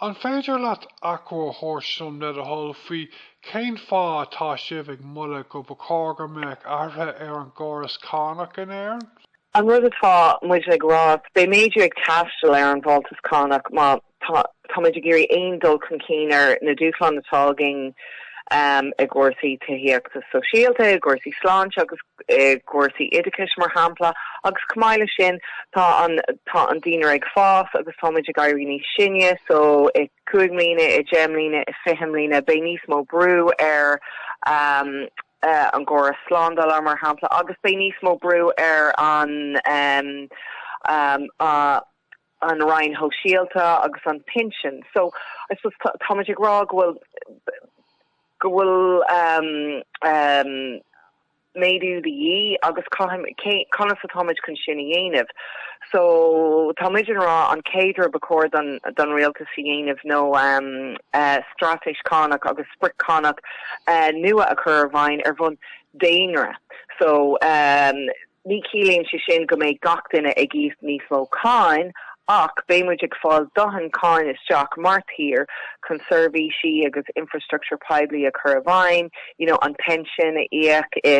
An féidir leat achoimre a thabhairt dom, le do thoil, faoi cén fáth atá sibh ag moladh gur ba chóir go mbeadh athruithe ar an gcóras cánach in Éirinn? An rud atá muid ag rá, beidh méadú ag teastáil ar an bhfáltas cánach má táimid ag iarraidh aon dul chun cinn ar na dúshláin atá againn. i gcúrsaí tithíochta sóisialta, i gcúrsaí sláinte agus i gcúrsaí oideachais, mar shampla, agus chomh maith leis sin, tá an, tá an daonra ag fás agus tá muid ag éirí níos sine, so i cúig mbliana, i deich mbliana, i fiche mbliana, beidh níos mó brú ar an gcóras slándála, mar shampla, agus beidh níos mó brú ar an, an Roinn Shóisialta agus an Pinsean so I suppose tá muid ag rá go bhfuil, go bhfuil méadú de dhíth agus conas atá muid chun sin a dhéanamh so tá muid ag rá an chéad rud ba chóir don Rialtas a dhéanamh ná straitéis cánach agus sprioc chánach nua a chur i bhfeidhm ar bhonn daonra so. Ní chiallaíonn sé sin go mbeidh gach duine ag íoc níos mó cáin, ach beidh muid ag fáil dothain cáin isteach mar thír chun seirbhísí agus infrastructure poiblí a chur i bhfeidhm, you know, an pension a íoc i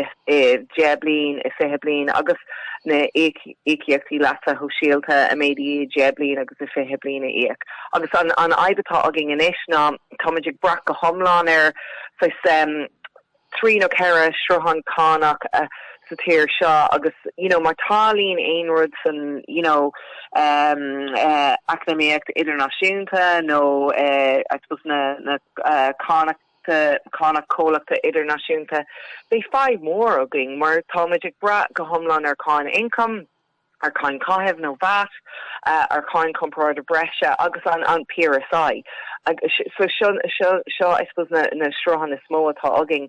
deich bliain, i fiche bliain, agus na íocaíochtaí leasa shóisialta a mhéadú i deich bliain agus i fiche bliain a íoc. Agus an fhadhb atá againn anois ná tá muid ag brath go hiomlán ar, saghas, trí nó ceithre shruthán cánach sa tír seo agus you know má tarlaíonn aon rud san you know eacnamaíocht idirnáisiúnta nó I suppose na cánach cánach comhlachta idirnáisiúnta beidh fadhb mhór againn mar táimid ag brath go hiomlán ar cháin ioncaim ar cháin caitheamh nó vat, ar cháin chorparáide breise agus an PRSI. Seo, I suppose, na srutháin is mó atá againn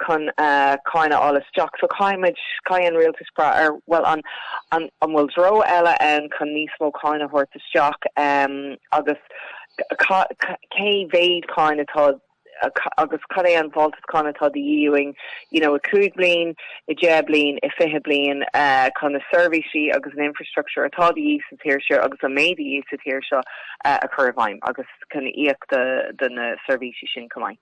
chun cáin a fháil isteach. So caithfimid, caithfidh an Rialtas brath ar, bhuel, an an bhfuil treo eile ann chun níos mó cáin a thabhairt isteach agus cé mhéad cáin atá agus cad é an fáltas cáin atá de dhíth uainn, you know, i 5 bliain, i 10 bliain, i 20 bliain, chun na seirbhísí agus an infreastruchtúr atá de dhíth sa tír seo agus a mbeidh de dhíth sa tír seo a chur i bhfeidhm agus chun íocaíocht do na seirbhísí sin chomh maith.